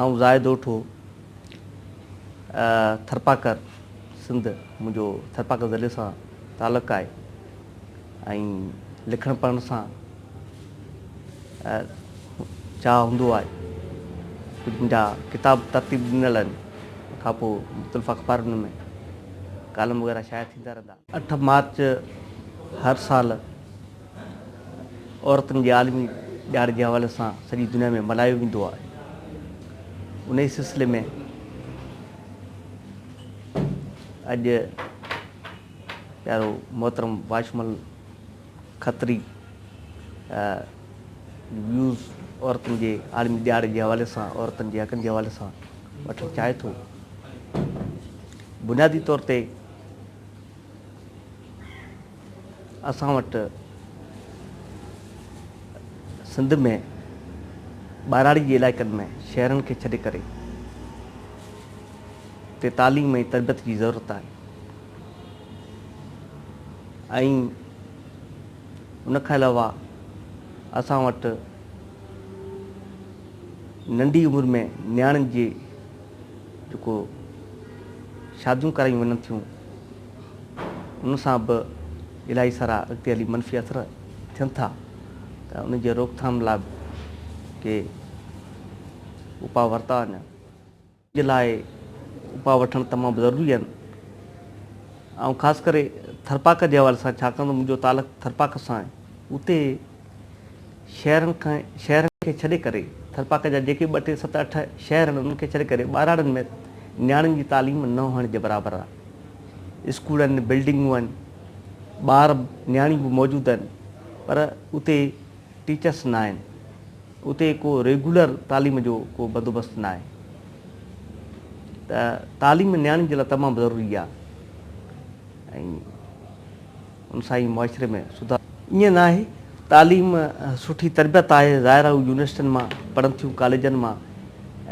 آئون زاهد اوٺو ٿرپاڪر سنڌ منهنجو ٿرپاڪر ضلعي سان تعلق آهي ۽ لکڻ پڙهڻ سان چاهه هوندو آهي ڪجهه منهنجا ڪتاب ترتيب ڏنل آهن ان کان پوء مختلف اخبارن ۾ ڪالم وغيره شايع ٿيندا رهندا اٺ مارچ هر سال عورتن جي عالمي ڏهاڙي جي حوالي سان سڄي دنيا ۾ ملهايو ويندو آهي ان ئي سلسلي ۾ اڄ پيارو محترم واشمل کتري ويوز عورتن جي عالمي ڏهاڙي جي حوالي سان عورتن جي حقن جي حوالي سان وٺڻ چاهي ٿو بنيادي طور تي اسان وٽ سنڌ ۾ ٻهراڙي جي علائقن ۾ شهرن کي ڇڏي ڪري تي تعليم ۽ تربيت جي ضرورت آهي ۽ ان کان علاوه اسان وٽ ننڍي عمر ۾ نياڻين جي جيڪو شاديون ڪرايون وڃن ٿيون ان سان به الاهي سارا اڳتي هلي منفي اثر ٿين ٿا ته ان جي روڪٿام لاء به ڪي اپاء ورتا وڃن. جي لاء اپاء وٺڻ تمام ضروري آهن. آئون خاص ڪري ٿرپاڪ جي حوالي سان ڇاڪاڻ ته منهنجو تعلق ٿرپاڪ سان آهي اتي شهرن کان شهرن کي ڇڏي ڪري ٿرپاڪ جا جيڪي ٻه ٽي ست اٺ شهر آهن انهن کي ڇڏي ڪري ٻهراڙين ۾ نياڻين جي تعليم نه هئڻ جي برابر آهي اسڪول آهن بلڊنگون آهن ٻار نياڻيون به موجود آهن پر اتي ٽيچرس نه آهن اتي ڪو ريگولر تعليم جو ڪو بندوبست نه آهي ته تعليم نياڻين جي لاء تمام ضروري آهي انساني معاشري ۾ سڌار. ائين نه آهي. تعليم سٺي تربيت آهي. ظاهر آهي هو يونيورسٽين مان پڙهن ٿيون ڪاليجن مان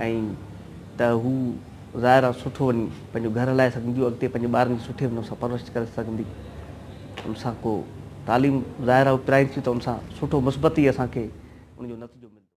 ۽ ته هو ظاهر آهي سٺو وڃي پنهنجو گهر هلائي سگهنديون اڳتي پنهنجي ٻارن جي سٺي نموني سان پرورش ڪري سگهندي ان سان ڪو تعليم ظاهر آهي هو پرائين ٿيون ته ان سان سٺو مثبت ئي اسان کي ان جو نتيجو ملندو.